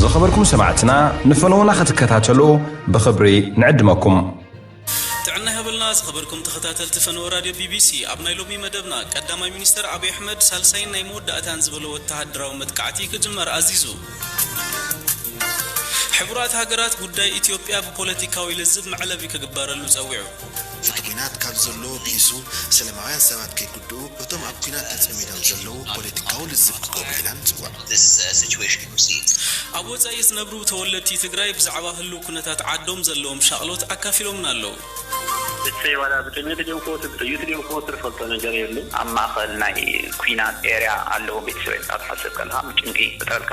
ዝኸበርኩም ሰማዕትና ንፈነዉና ክትከታተሉ ብኽብሪ ንዕድመኩም። ጥዕና ይሃበልና ዝኸበርኩም ተኸታተልቲ ፈነወ ራድዮ ቢቢሲ፣ ኣብ ናይ ሎሚ መደብና ቀዳማይ ሚኒስተር ኣብይ ኣሕመድ ሳልሳይን ናይ መወዳእታን ዝበሎ ወተሃደራዊ መጥቃዕቲ ክጅመር ኣዚዙ። ሕቡራት ሃገራት ጉዳይ ኢትዮጵያ ብፖለቲካዊ ልዝብ መዕለቢ ክግበረሉ ጸዊዑ። እቲ ኲናት ካብ ዘለዎ ብኢሱ ሰለማውያን ሰባት ከይጉድኡ እቶም ኣብ ኲናት ተጸሚዶም ዘለዉ ፖለቲካዊ ልዝብ ክገብሩ ኢና ንጽውዕ። ኣብ ወጻኢ ዝነብሩ ተወለድቲ ትግራይ ብዛዕባ ህሉው ኩነታት ዓዶም ዘለዎም ሻቕሎት ኣካፊሎምና ኣለው። እሰይ ዋላ ብጥሜት ድዮም ክሞቱ ብጥይት ድዮም ክሞቱ ንፈልጦ ነገር የሉን። ኣብ ማእኸል ናይ ኩናት ኤርያ ኣለዉ ቤተሰበይ ምሳኻ ክትሓስብ ከለኻ ጭንቂ ይፈጥረልካ።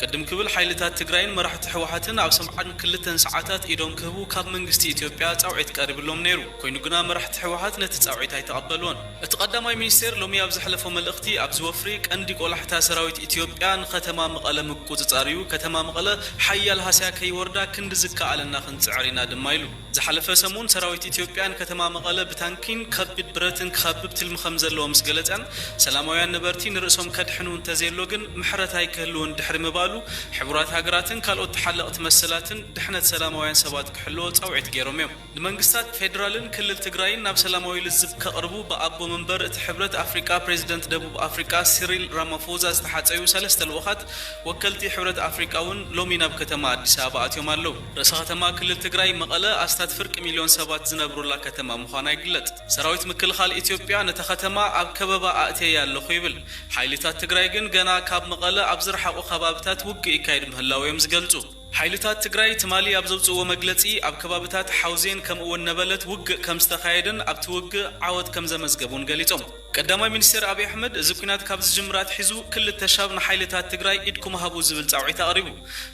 ቅድም ክብል ሓይልታት ትግራይን መራሕቲ ህወሓትን ኣብ ሰምዓን ክልተን ሰዓታት ኢዶም ክህቡ ካብ መንግስቲ ኢትዮጵያ ፃውዒት ቀሪብሎም ነይሩ። ኮይኑ ግና መራሕቲ ህወሓት ነቲ ፃውዒት ኣይተቐበልዎን። እቲ ቀዳማይ ሚኒስቴር ሎሚ ኣብ ዘሕለፎ መልእኽቲ ኣብዚ ወፍሪ ቀንዲ ቆላሕታ ሰራዊት ኢትዮጵያ ንከተማ መቐለ ምቁፅፃር እዩ፣ ከተማ መቐለ ሓያል ሃስያ ከይወርዳ ክንዲ ዝከኣለና ክንፅዕር ኢና ድማ ኢሉ። ዝሓለፈ ሰሙን ሰራዊት ኢትዮጵያ ንከተማ መቐለ ብታንኪን ከቢድ ብረትን ክኸብብ ትልሚ ከምዘለዎ ምስ ገለጸን፣ ሰላማውያን ነበርቲ ንርእሶም ከድሕኑ እንተዘየሎ ግን ምሕረት ኣይክህልውን ድሕሪ ምባሉ፣ ሕቡራት ሃገራትን ካልኦት ተሓለቕቲ መሰላትን ድሕነት ሰላማውያን ሰባት ክሕልዎ ጻውዒት ገይሮም'ዮም። ንመንግስታት ፌደራልን ክልል ትግራይን ናብ ሰላማዊ ልዝብ ከቕርቡ ብኣቦ መንበር እቲ ሕብረት ኣፍሪቃ ፕሬዚደንት ደቡብ ኣፍሪቃ ሲሪል ራማፎዛ ዝተሓጸዩ ሰለስተ ልኡኻት ወከልቲ ሕብረት ኣፍሪቃ'ውን ሎሚ ናብ ከተማ ኣዲስ ኣበባ ኣትዮም ኣለው። ርእሰ ከተማ ክልል ትግራይ መቐለ ኣስታት ፍርቂ ሚልዮን ሰባት ዝነብሩላ ከተማ ምዃና ይግለፅ። ሰራዊት ምክልኻል ኢትዮጵያ ነታ ከተማ ኣብ ከበባ ኣእትየያ ኣለኹ ይብል። ሓይሊታት ትግራይ ግን ገና ካብ መቐለ ኣብ ዝረሓቑ ከባብታት ውግእ ይካየድ ምህላዉ እዮም ዝገልፁ። ሓይልታት ትግራይ ትማሊ ኣብ ዘውፅእዎ መግለፂ ኣብ ከባብታት ሓውዜን ከምኡ'ውን ነበለት ውግእ ከምዝተኻየደን ኣብቲ ውግእ ዓወት ከምዘመዝገቡን ገሊፆም። ቀዳማይ ሚኒስቴር ኣብይ ኣሕመድ እዚ ኲናት ካብ ዝጅምር ኣትሒዙ ክልተ ሻብ ንሓይልታት ትግራይ ኢድኩም ሃቡ ዝብል ፃውዒት ኣቕሪቡ።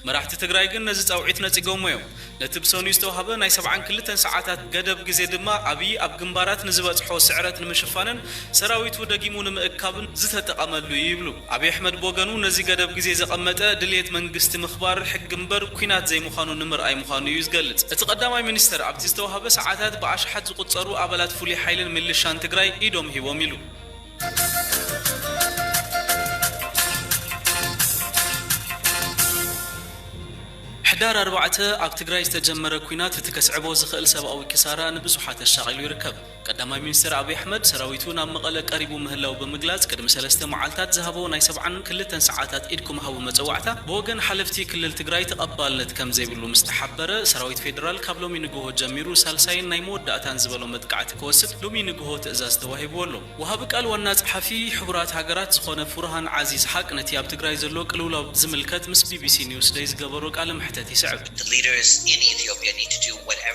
መራሕቲ ትግራይ ግን ነዚ ፃውዒት ነፂገሞ እዮም። ነቲ ብሰኑይ ዝተውሃበ ናይ ሰብዓን ክልተን ሰዓታት ገደብ ግዜ ድማ ኣብይ ኣብ ግንባራት ንዝበፅሖ ስዕረት ንምሽፋንን ሰራዊቱ ደጊሙ ንምእካብን ዝተጠቐመሉ እዩ ይብሉ። ኣብይ ኣሕመድ ብወገኑ ነዚ ገደብ ግዜ ዘቐመጠ ድልየት መንግስቲ ምኽባር ሕጊ እምበር ኲናት ዘይምዃኑ ንምርኣይ ምዃኑ እዩ ዝገልጽ። እቲ ቀዳማይ ሚኒስተር ኣብቲ ዝተዋህበ ሰዓታት ብኣሽሓት ዝቑጸሩ ኣባላት ፍሉይ ሓይልን ሚልሻን ትግራይ ኢዶም ሂቦም ኢሉ። ሕዳር ኣርባዕተ ኣብ ትግራይ ዝተጀመረ ኲናት እቲ ከስዕቦ ዝኽእል ሰብኣዊ ክሳራ ንብዙሓት ኣሻቒሉ ይርከብ። ቀዳማይ ሚኒስተር ኣብይ ኣሕመድ፣ ሰራዊቱ ናብ መቐለ ቀሪቡ ምህላው ብምግላጽ፣ ቅድሚ ሰለስተ መዓልታት ዝሃቦ ናይ ሰብዓን ክልተን ሰዓታት ኢድኩም ሃቡ መጸዋዕታ፣ ብወገን ሓለፍቲ ክልል ትግራይ ተቐባልነት ከምዘይብሉ ምስ ተሓበረ፣ ሰራዊት ፌደራል ካብ ሎሚ ንግሆ ጀሚሩ ሳልሳይን ናይ መወዳእታን ዝበሎ መጥቃዕቲ ክወስድ ሎሚ ንግሆ ትእዛዝ ተዋሂብዎ ኣሎ። ወሃቢ ቃል ዋና ጸሓፊ ሕቡራት ሃገራት ዝኾነ ፉርሃን ዓዚዝ ሓቅ ነቲ ኣብ ትግራይ ዘሎ ቅልውላው ዝምልከት ምስ ቢቢሲ ኒውስደይ ዝገበሮ ቃለ መሕተት ይስዕብ።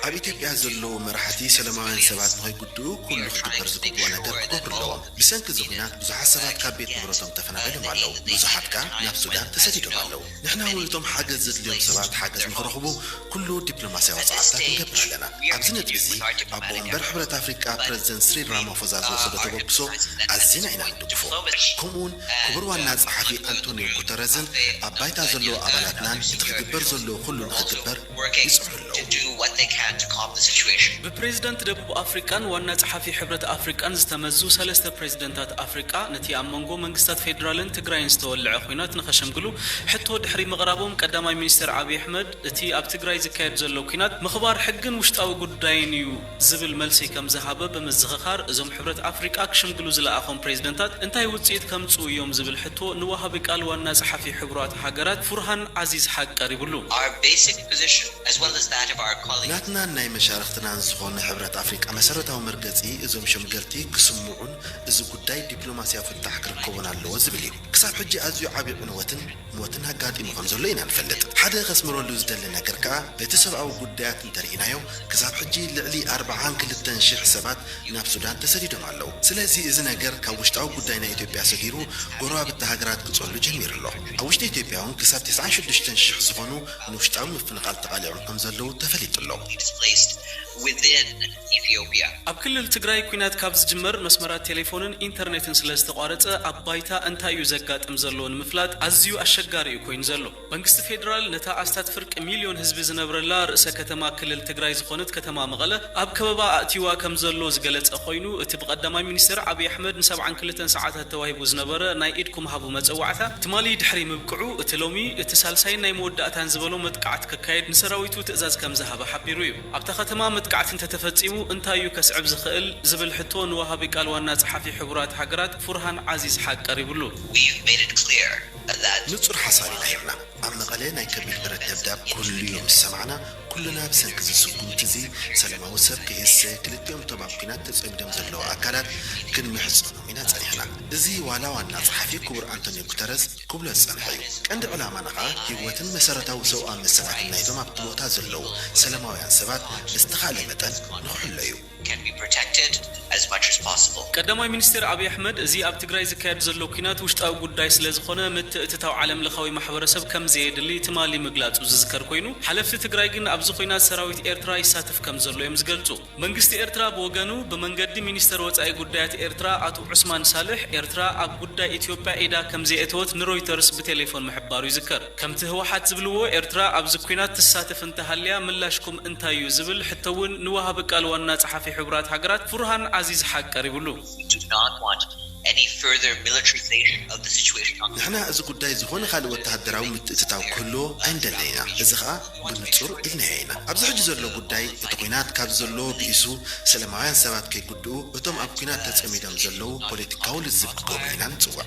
ኣብ ኢትዮጵያ ዘለዉ መራሕቲ ሰለማውያን ሰባት ንኸይጉድኡ ኩሉ ክግበር ዝግብኦ ነገር ክገብሩ ኣለዎም። ብሰንኪ እዚ ኹናት ብዙሓት ሰባት ካብ ቤት ንብረቶም ተፈናቒሎም ኣለዉ፣ ብዙሓት ከኣ ናብ ሱዳን ተሰዲዶም ኣለዉ። ንሕና እውን እቶም ሓገዝ ዘድልዮም ሰባት ሓገዝ ንኽረኽቡ ኩሉ ዲፕሎማስያዊ ጻዕርታት ንገብር ኣለና። ኣብዚ ነጥቢ እዚ ኣቦ ወንበር ሕብረት ኣፍሪቃ ፕረዚደንት ስሪል ራማፎዛ ዝወሰዶ ተበግሶ ኣዚና ኢና ንድግፎ ከምኡውን ክቡር ዋና ጸሓፊ ኣንቶንዮ ጉተረዝን ኣብ ባይታ ዘለዉ ኣባላትናን እቲ ክግበር ዘለዎ ኩሉ ንኽግበር ይጽዕሩ ኣለዉ። ብፕሬዝደንት ደቡብ ኣፍሪቃን ዋና ጸሓፊ ሕብረት ኣፍሪቃን ዝተመዙ ሰለስተ ፕሬዝደንታት ኣፍሪቃ ነቲ ኣብ መንጎ መንግስታት ፌድራልን ትግራይን ዝተወለዐ ኹናት ንኸሸምግሉ ሕቶ ድሕሪ ምቕራቦም ቀዳማይ ሚኒስተር ዓብይ ኣሕመድ እቲ ኣብ ትግራይ ዝካየድ ዘሎ ኲናት ምኽባር ሕግን ውሽጣዊ ጉዳይን እዩ ዝብል መልሲ ከም ዝሃበ ብምዝኽኻር፣ እዞም ሕብረት ኣፍሪቃ ክሽምግሉ ዝለኣኾም ፕሬዝደንታት እንታይ ውጽኢት ከምጽኡ እዮም ዝብል ሕቶ ንወሃቢ ቃል ዋና ጸሓፊ ሕቡራት ሃገራት ፉርሃን ዓዚዝ ሓቅ ቀሪብሉ። Our basic position, as well as that of our colleagues. ናትናን ናይ መሻርኽትናን ዝኾነ ሕብረት ኣፍሪቃ መሰረታዊ መርገጺ እዞም ሸምገልቲ ክስምዑን እዚ ጉዳይ ዲፕሎማሲያዊ ፍታሕ ክርከቦን ኣለዎ ዝብል እዩ። ክሳብ ሕጂ ኣዝዩ ዓቢ ዕንወትን፣ ሞትን ኣጋጢሙ ከም ዘሎ ኢና ንፈልጥ። ሓደ ከስምረሉ ዝደሊ ነገር ከኣ በቲ ሰብኣዊ ጉዳያት እንተ ርኢናዮ ክሳብ ሕጂ ልዕሊ ኣርብዓን ክልተን ሽሕ ሰባት ናብ ሱዳን ተሰዲዶም ኣለዉ። ስለዚ እዚ ነገር ካብ ውሽጣዊ ጉዳይ ናይ ኢትዮጵያ ሰጊሩ ጎረባብቲ ሃገራት ክጸሉ ጀሚሩ ኣሎ። ኣብ ውሽጢ ኢትዮጵያ እውን ክሳብ ተስዓን ሽዱሽተን ሽሕ ዝኾኑ ንውሽጣዊ ምፍንቓል ተቓሊዖም ከም ዘለዉ ተፈሊጡ ኣሎ። Ethiopia። ኣብ ክልል ትግራይ ኲናት ካብ ዝጅመር መስመራት ቴሌፎንን ኢንተርኔትን ስለዝተቋረፀ ኣብ ባይታ እንታይ እዩ ዘጋጥም ዘሎ ንምፍላጥ ኣዝዩ ኣሸጋሪ እዩ ኮይኑ ዘሎ። መንግስቲ ፌዴራል ነታ ኣስታት ፍርቂ ሚልዮን ህዝቢ ዝነብረላ ርእሰ ከተማ ክልል ትግራይ ዝኾነት ከተማ መቐለ ኣብ ከበባ ኣእትይዋ ከምዘሎ ዝገለፀ ኮይኑ እቲ ብቀዳማይ ሚኒስትር ዓብዪ ኣሕመድ ን ሰብዓን ክልተን ሰዓታት ተዋሂቡ ዝነበረ ናይ ኢድኩም ሃቡ መፀዋዕታ ትማሊ ድሕሪ ምብቅዑ እቲ ሎሚ እቲ ሳልሳይን ናይ መወዳእታን ዝበሎ መጥቃዕቲ ክካየድ ንሰራዊቱ ትእዛዝ ከምዝሃበ ሓቢሩ እዩ። ኣብታ ከተማ መጥቃዕቲ እንተተፈጺሙ እንታይ እዩ ከስዕብ ዝኽእል ዝብል ሕቶ ንወሃቢ ቃል ዋና ጸሓፊ ሕቡራት ሃገራት ፉርሃን ዓዚዝ ሓቅ ቀሪብሉ። We've made it clear that. ንጹር ሓሳብ ኢና ሂብና። ኣብ መቐለ ናይ ከቢድ ብረት ደብዳብ ክህሉ'ዩ ምስ ሰማዕና፣ ኩልና ብሰንኪ እዚ ስጉምቲ'ዚ ሰለማዊ ሰብ ከይህሰ ክልቲኦም እቶም ኣብ ኲናት ተጸሚዶም ዘለዉ ኣካላት ክንምሕጸኖም ኢና ጸኒሕና። እዚ ዋላ ዋና ጸሓፊ ክቡር ኣንቶንዮ ጉተረዝ፣ ክብሎ ዝጸንሐ እዩ። ቀንዲ ዕላማና ከኣ ህይወትን መሰረታዊ ሰብኣዊ መሰላትን ናይቶም ኣብቲ ቦታ ዘለዉ ሰለማውያን ሰባት ብዝተኻእለ መጠን ንክሕሎ እዩ። ቀዳማይ ሚኒስትር ኣብይ ኣሕመድ፣ እዚ ኣብ ትግራይ ዝካየድ ዘሎ ኲናት ውሽጣዊ ጉዳይ ስለዝኾነ ምትእትታው ዓለምለኻዊ ማሕበረሰብ ከምዘየድሊ ትማሊ ምግላጹ ዝዝከር ኮይኑ፣ ሓለፍቲ ትግራይ ግን ኣብዚ ኲናት ሰራዊት ኤርትራ ይሳተፍ ከምዘሎ እዮም ዝገልጹ። መንግስቲ ኤርትራ ብወገኑ ብመንገዲ ሚኒስተር ወጻኢ ጉዳያት ኤርትራ ኣቶ ዑስማን ሳልሕ፣ ኤርትራ ኣብ ጉዳይ ኢትዮጵያ ኢዳ ከምዘየእተወት ንሮይተርስ ብቴሌፎን ምሕባሩ ይዝከር። ከምቲ ህወሓት ዝብልዎ ኤርትራ ኣብዚ ኲናት ትሳተፍ እንተሃልያ ምላሽኩም እንታይ'ዩ ዝብል ሕቶ'ውን ንወሃቢ ቃል ዋና ጸሓፊ ሕቡራት ሃገራት ፉርሃን ዓዚዝ ሓቅ ቀሪብሉ። ዝምድና ተዋዲዱ ንሕና እዚ ጉዳይ ዝኾነ ካልእ ወተሃደራዊ ምትእትታው ክህልዎ ኣይንደልን ኢና፣ እዚ ከኣ ብንጹር ኢልናዮ ኢና። ኣብዚ ሕጂ ዘሎ ጉዳይ፣ እቲ ኲናት ካብዚ ዘለዎ ብኢሱ ሰለማውያን ሰባት ከይጉድኡ፣ እቶም ኣብ ኲናት ተጸሚዶም ዘለዉ ፖለቲካዊ ልዝብ ክገብሩ ኢና ንጽውዕ።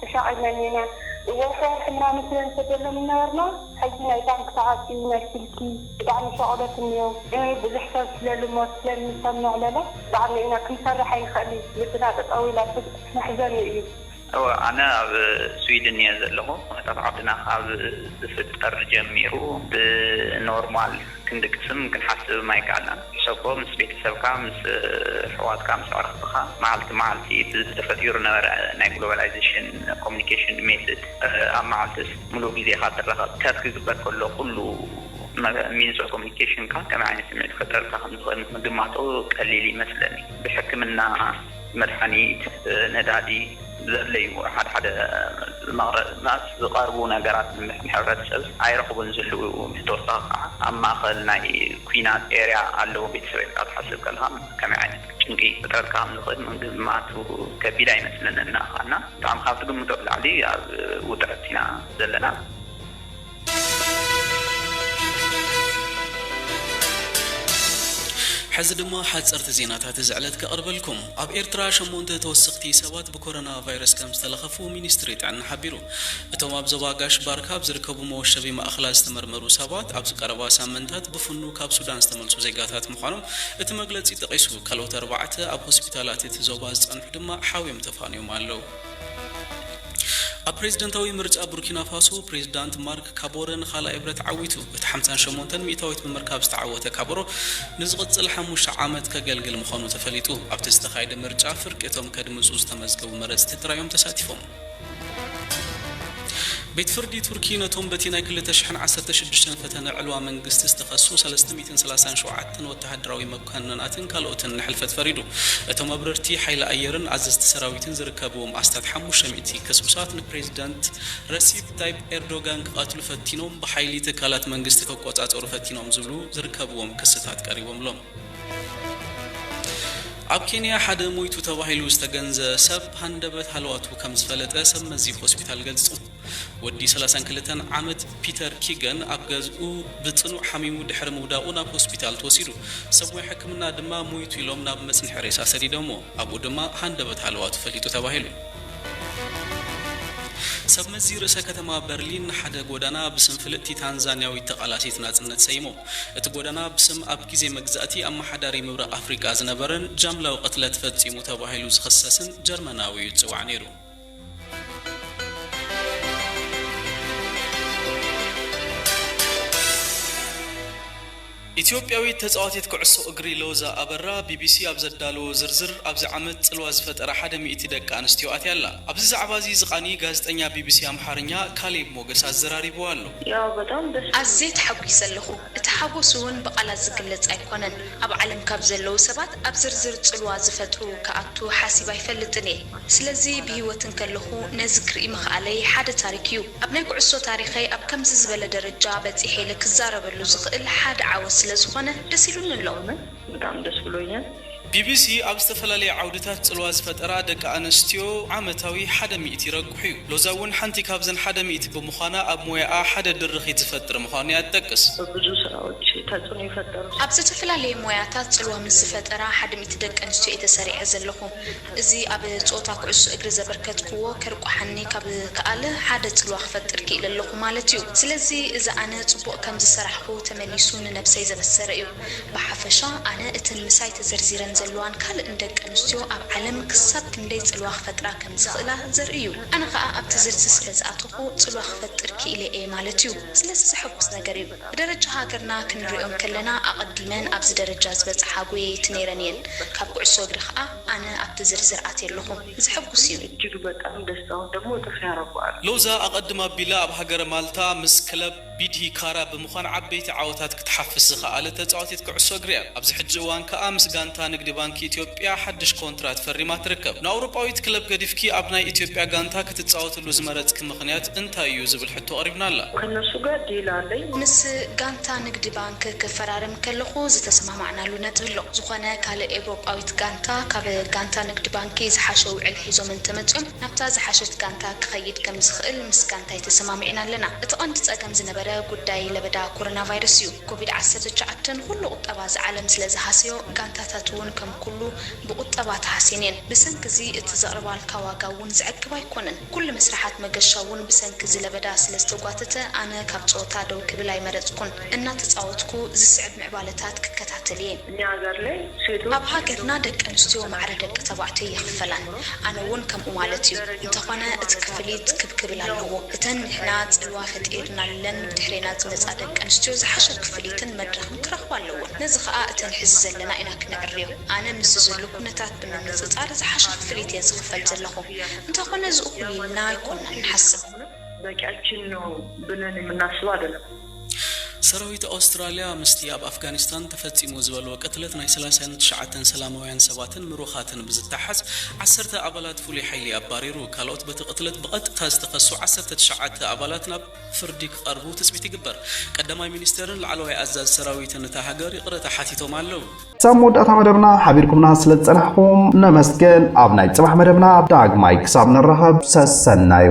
ተሻቒልነን ኢና ወርሒ ወርሒ ምና ንስለ ንሰደሎም ይነበርና ሕጂ ናይ ባንክ ተዓጽዩ ናይ ስልኪ ብጣዕሚ ሸቕሎት እንዮ ብዙሕ ሰብ ስለ ልሞት ስለ ንሰምዕ ለለ ባዕልና ኢና ክንሰርሕ ኣይንኽእሊ ልብና ጠጠው ኢላ ስብ መሕዘኒ እዩ። እወ ኣነ ኣብ ስዊድን እየ ዘለኹ ኩነታት ዓድና ካብ ዝፍጠር ጀሚሩ ብኖርማል ክንዲ ቅስን ክንሓስብም ኣይከኣልናን። ሕሰቦ ምስ ቤተሰብካ፣ ምስ ኣሕዋትካ፣ ምስ ኣዕርኽትኻ መዓልቲ መዓልቲ ብዚ ተፈጢሩ ዝነበረ ናይ ግሎባላይዜሽን ኮሙኒኬሽን ሜትድ ኣብ መዓልትስ ምሉእ ግዜኻ ትራኸብ ከብ ክግበር ከሎ ኩሉ ሚንስ ኦፍ ኮሙኒኬሽንካ ከመይ ዓይነት ስምዒት ክፈጥረልካ ከም ዝኽእል ምግማቱ ቀሊል ይመስለኒ። ብሕክምና። መድሓኒት፣ ነዳዲ ዘድለዩ ሓደ ሓደ መስ ዝቐርቡ ነገራት ንመድሕን ሕብረተሰብ ኣይረኽቡን ዝህልው ብተወሳኺ ካዓ ኣብ ማእኸል ናይ ኩናት ኤርያ ኣለው ቤተሰብ ኢልካ ትሓስብ ከለኻ ከመይ ዓይነት ጭንቂ ክፈጥረልካ ከም ዝኽእል ምግማቱ ከቢድ ኣይመስለንን ንኣኻ እና ብጣዕሚ ካብ ትግምቶ ብላዕሊ ኣብ ውጥረት ኢና ዘለና። ሕዚ ድማ ሓጸርቲ ዜናታት እዚ ዕለት ከቕርበልኩም። ኣብ ኤርትራ ሸሞንተ ተወሰኽቲ ሰባት ብኮረና ቫይረስ ከም ዝተለኸፉ ሚኒስትሪ ጥዕና ሓቢሩ። እቶም ኣብ ዞባ ጋሽ ባርካ ኣብ ዝርከቡ መወሸቢ ማእኸላት ዝተመርመሩ ሰባት ኣብዚ ቀረባ ሳምንታት ብፍኑ ካብ ሱዳን ዝተመልሱ ዜጋታት ምዃኖም እቲ መግለጺ ጠቒሱ። ካልኦት ኣርባዕተ ኣብ ሆስፒታላት እቲ ዞባ ዝጸንሑ ድማ ሓውዮም ተፋንዮም ኣለው። ኣብ ፕሬዝደንታዊ ምርጫ ቡርኪናፋሶ ፕሬዝዳንት ማርክ ካቦረ ንኻልኣይ ብረት ዓዊቱ። እቲ ሓምሳን ሸሞንተን ሚእታዊት ብምርካብ ዝተዓወተ ካቦሮ ንዝቕፅል ሓሙሽተ ዓመት ከገልግል ምዃኑ ተፈሊጡ። ኣብቲ ዝተኻየደ ምርጫ ፍርቂ እቶም ከድምፁ ዝተመዝገቡ መረፅቲ ጥራይ እዮም ተሳቲፎም። ቤት ፍርዲ ቱርኪ ነቶም በቲ ናይ ክልተ ሽሕን ዓሰርተ ሽዱሽተን ፈተነ ዕልዋ መንግስቲ ዝተኸሱ ሰለስተ ሚእትን ሰላሳን ሸውዓተን ወተሃደራዊ ቀኖናትን ካልኦትን ንሕልፈት ፈሪዱ። እቶም ኣብረርቲ ሓይሊ ኣየርን ኣዘዝቲ ሰራዊትን ዝርከብዎም ኣስታት ሓሙሽተ ሚእቲ ከስብሳት ንፕሬዚደንት ረሲፕ ታይፕ ኤርዶጋን ክቐትሉ ፈቲኖም፣ ብሓይሊ ትካላት መንግስቲ ክቆፃፀሩ ፈቲኖም ዝብሉ ዝርከብዎም ክስታት ቀሪቦምሎም። ኣብ ኬንያ ሓደ ሞይቱ ተባሂሉ ዝተገንዘ ሰብ ሃንደበት ሃለዋቱ ከምዝፈለጠ ሰብ መዚ ሆስፒታል ገሊፁ። ወዲ ሰላሳን ክልተን ዓመት ፒተር ኪገን ኣብ ገዝኡ ብጽኑዕ ሓሚሙ ድሕሪ ምውዳቑ ናብ ሆስፒታል ተወሲዱ። ሰብ ሞያ ሕክምና ድማ ሞይቱ ኢሎም ናብ መጽንሒ ሬሳ ሰዲዶምዎ። ኣብኡ ድማ ሃንደበት ሃለዋቱ ፈሊጡ ተባሂሉ። ሰብ መዚ ርእሰ ከተማ በርሊን ንሓደ ጎዳና ብስም ፍልጥቲ ታንዛንያዊት ተቓላሲት ናጽነት ሰይሞም። እቲ ጎዳና ብስም ኣብ ግዜ መግዛእቲ ኣመሓዳሪ ምብራቕ ኣፍሪቃ ዝነበረን ጃምላዊ ቅትለት ፈጺሙ ተባሂሉ ዝኽሰስን ጀርመናዊ'ዩ ዝጽዋዕ ነይሩ። ኢትዮጵያዊት ተጻዋቲት ኩዕሶ እግሪ ሎዛ ኣበራ ቢቢሲ ኣብ ዘዳለዎ ዝርዝር ኣብዚ ዓመት ጽልዋ ዝፈጠራ ሓደ ሚእቲ ደቂ ኣንስትዮ ኣትያ ኣላ። ኣብዚ ዛዕባ'ዚ ዝቓኒ ጋዜጠኛ ቢቢሲ ኣምሓርኛ ካሌብ ሞገስ ኣዘራሪቡዋ ኣሎ። ኣዝየ ተሓጒሰ ኣለኹ። እቲ ሓጎስ እውን ብቓላት ዝግለጽ ኣይኮነን። ኣብ ዓለም ካብ ዘለዉ ሰባት ኣብ ዝርዝር ጽልዋ ዝፈጥሩ ክኣቱ ሓሲብ ኣይፈልጥን እየ። ስለዚ ብህይወት እንከለኹ ነዚ ክርኢ ምኽኣለይ ሓደ ታሪክ እዩ። ኣብ ናይ ኩዕሶ ታሪኸይ ኣብ ከምዚ ዝበለ ደረጃ በጺሐ ኢለ ክዛረበሉ ዝኽእል ሓደ ዓወት ስለዝኾነ ደስ ኢሉኒ ኣሎ። ብጣዕሚ ደስ ብሎኛ። ቢቢሲ ኣብ ዝተፈላለየ ዓውድታት ጽልዋ ዝፈጠራ ደቂ ኣነስትዮ ዓመታዊ ሓደ ሚእቲ ይረቁሕ'ዩ። ሎዛ እውን ሓንቲ ካብዘን ሓደ ሚእቲ ብምዃና ኣብ ሞያኣ ሓደ ድርኺት ዝፈጥር ምዃኑ'ያ ትጠቅስ። በብዙ ስራዎች ተጽዕኖ ይፈጠር። ኣብ ዝተፈላለየ ሞያታት ጽልዋ ምስ ዝፈጠራ ሓደ ሚእቲ ደቂ ኣንስትዮ እየ ተሰሪዐ ዘለኹ። እዚ ኣብ ጸወታ ኩዕሶ እግሪ ዘበርከትክዎ ከርቁሓኒ ካብ ዝከኣለ ሓደ ጽልዋ ክፈጥር ክኢለ ኣለኹ ማለት'ዩ። ስለዚ እዚ ኣነ ጽቡቕ ከም ዝሰራሕኹ ተመሊሱ ንነብሰይ ዘበሰረ'ዩ። ብሓፈሻ ኣነ እተን ምሳይ ተዘርዚረን ዘለዋን ካልእን ደቂ ኣንስትዮ ኣብ ዓለም ክሳብ ክንደይ ጽልዋ ክፈጥራ ከም ዝኽእላ ዘርኢ እዩ። ኣነ ከኣ ኣብቲ ዝርዚ ስለ ዝኣተኹ ጽልዋ ክፈጥር ክኢለ እየ ማለት እዩ። ስለዚ ዘሐጉስ ነገር እዩ። ብደረጃ ሃገርና ክንርእዮ እንከለና ኣቐዲመን ኣብዚ ደረጃ ዝበጽሓ ጎየይቲ ነይረን እየን። ካብ ኩዕሶ እግሪ ከኣ ኣነ ኣብቲ ዝርዝር ኣትየ ኣለኹ። ዘሐጉስ እዩ። እጅግ በጣም ደስታውን ደሞ ጥፍ ያረገዋል። ሎዛ ኣቐድም ኣቢላ ኣብ ሃገረ ማልታ ምስ ክለብ። ቢድሂ ካራ ብምዃን ዓበይቲ ዓወታት ክትሓፍስ ዝኸኣለት ተጻዋቲት ኩዕሶ እግሪ እያ። ኣብዚ ሕጂ እዋን ከኣ ምስ ጋንታ ንግዲ ባንኪ ኢትዮጵያ ሓድሽ ኮንትራት ፈሪማ ትርከብ። ንኣውሮጳዊት ክለብ ገዲፍኪ ኣብ ናይ ኢትዮጵያ ጋንታ ክትጻወትሉ ዝመረጽኪ ምኽንያት እንታይ እዩ ዝብል ሕቶ ቀሪብናላ። ከነሱ ጋር ዲል ኣለኝ። ምስ ጋንታ ንግዲ ባንኪ ክፈራረም ከለኹ ዝተሰማማዕናሉ ነጥቢ ኣሎ። ዝኾነ ካልእ ኤውሮጳዊት ጋንታ ካብ ጋንታ ንግዲ ባንኪ ዝሓሸ ውዕል ሒዞም እንተመጽዮም፣ ናብታ ዝሓሸት ጋንታ ክኸይድ ከም ዝኽእል ምስ ጋንታይ ተሰማሚዕና ኣለና። እቲ ቀንዲ ጸገም ዝነበረ ጉዳይ ለበዳ ኮሮናቫይረስ እዩ። ኮቪድ ዓሰርተ ትሽዓተ ንኹሉ ቁጠባ እዛ ዓለም ስለ ዝሃሰዮ ጋንታታት እውን ከም ኩሉ ብቁጠባ ተሃስየን እየን። ብሰንኪ እዚ እቲ ዘቕርባልካ ዋጋ እውን ዘዕግብ ኣይኮነን። ኩሉ መስርሓት መገሻ እውን ብሰንኪ እዚ ለበዳ ስለ ዝተጓተተ ኣነ ካብ ጸወታ ደው ክብል ኣይመረጽኩን። እናተጻወትኩ ዝስዕብ ምዕባለታት ክከታተል እየ። እኛ ሃገር ላይ ሴቶች ኣብ ሃገርና ደቂ ኣንስትዮ ማዕረ ደቂ ተባዕትዮ ይኽፈላን። ኣነ ውን ከምኡ ማለት ዩ እንተኾነ እቲ ክፍሊት ክብ ክብል ኣለዎ እተን ንሕና ጽልዋ ፈጢርናለን ብድሕሬና ዝመጻ ደቂ ኣንስትዮ ዝሓሸ ክፍሊትን መድረኽን ክረኽባ ኣለወን ነዚ ከኣ እተን ሕዚ ዘለና ኢና ክነዕርዮ ኣነ ምስዚ ዘሎ ኩነታት ብምንጽጻር ዝሓሸ ክፍሊት እየ ዝኽፈል ዘለኹ እንተኾነ እዚ እኹል ኢልና ኣይኮናን ንሓስብ። በቂያችን ነው ብለን የምናስበው አይደለም። ሰራዊት ኣውስትራልያ ምስቲ ኣብ ኣፍጋኒስታን ተፈጺሙ ዝበልዎ ቅትለት ናይ ሰላሳን ትሽዓተን ሰላማውያን ሰባትን ምሩኻትን ብዝተሓዝ ዓሰርተ ኣባላት ፍሉይ ሓይሊ ኣባሪሩ። ካልኦት በቲ ቅትለት ብቐጥታ ዝተኸሱ ዓሰርተ ትሽዓተ ኣባላት ናብ ፍርዲ ክቐርቡ ትጽቢት ይግበር። ቀዳማይ ሚኒስተርን ላዕለዋይ ኣዛዚ ሰራዊትን እታ ሃገር ይቕረታ ሓቲቶም ኣለዉ። ክሳብ መወዳእታ መደብና ሓቢርኩምና ስለ ዝጸናሕኩም ነመስግን። ኣብ ናይ ጽባሕ መደብና ዳግማይ ክሳብ ንራኸብ ሰሰናዩ።